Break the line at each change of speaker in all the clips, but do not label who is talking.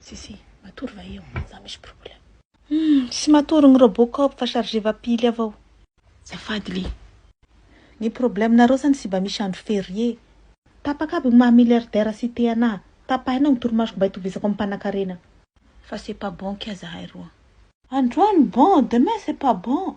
Si si, matory va eo? Za misy problème. Humm, tsy matory ny Robocop fa charge va pile avao. Zafady li. Ny problème nareo zany tsy ba misy andro ferie. Tapaka aby ny maha milliardaire sy te anah. Tapahina ny torimasoko mba itovizako amin'ny mpanakarena. Fa c'est pas bon kia zahay roa. Androany bon, demain c'est pas bon.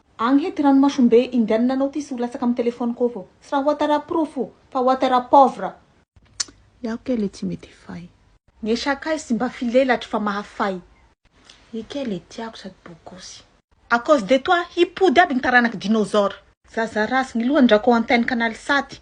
Agny he ty ranomasombe indianina anao ty sy ho latsaka am telephone ko avao. Tsy raha Ouattara porofo fa Ouattara pauvre. Tsk! Iaho kay le tsy mety fay. Ny sakay sy mba filelatry fa mahafay. Io kay le tiako sady bogosy. À cause de toi hipody aby ny taranak'i dinosaure. Zaza ratsy ny lohany Drako antenn canal saty.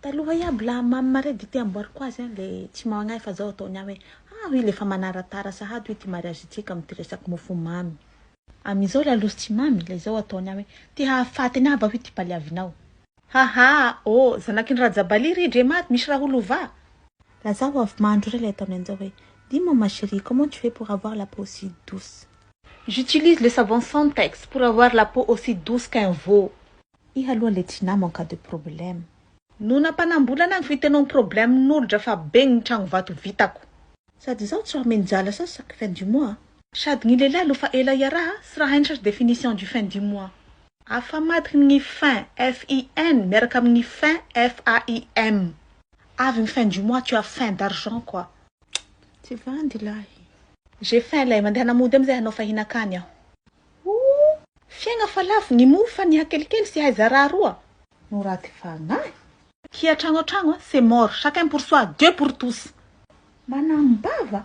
Taloha i Ablaham Mare dia te amboariko azy an le tsy magnahy fa zao ataony an hoe ah hoy le fa manaratara sahady hoy ty mariage ntsika amty resaky mofo mamy am izao la losy tsy mamy la izao ataony an hoe te hahafaty anah va hoy ty paliavinao. Ha ha oh zanaky ny Rajabali ry dre Maro misy raha ho lovà. Lazao avy mandro re le ataony anzao hoe dis moi ma cherie comment tu fais pour avoir la peau aussi douce. J'utilise le savon Santex pour avoir la peau aussi douce qu'un veau. Iha aloha le tsy namo en cas de problème. No nampanambolana ny fitenao problème nolodra fa be ny tragno vato vitako. Sady izaho tsy raha menjala sasa fin du mois a. Sady gny lehilahy aloha fa ela iaraha tsy raha hainy sasa définition du fin du mois. Afamadikny gny fin, FIN, miaraka amin gny fin, FAIM. Avy gny fin du mois tu as fin d'argent quoi. Tsy vandy lahy. J'ai fin lay, mandeha hanamody amizay hanao fahinakany aho. Ooh! Fiaigna fa lavo ny mofo fa ny hakelikely sy hay zarà roa no raty fagnahy. Kia tragno an tragno a c'est mort chacun pour soi Dieu pour tous. Manam bava.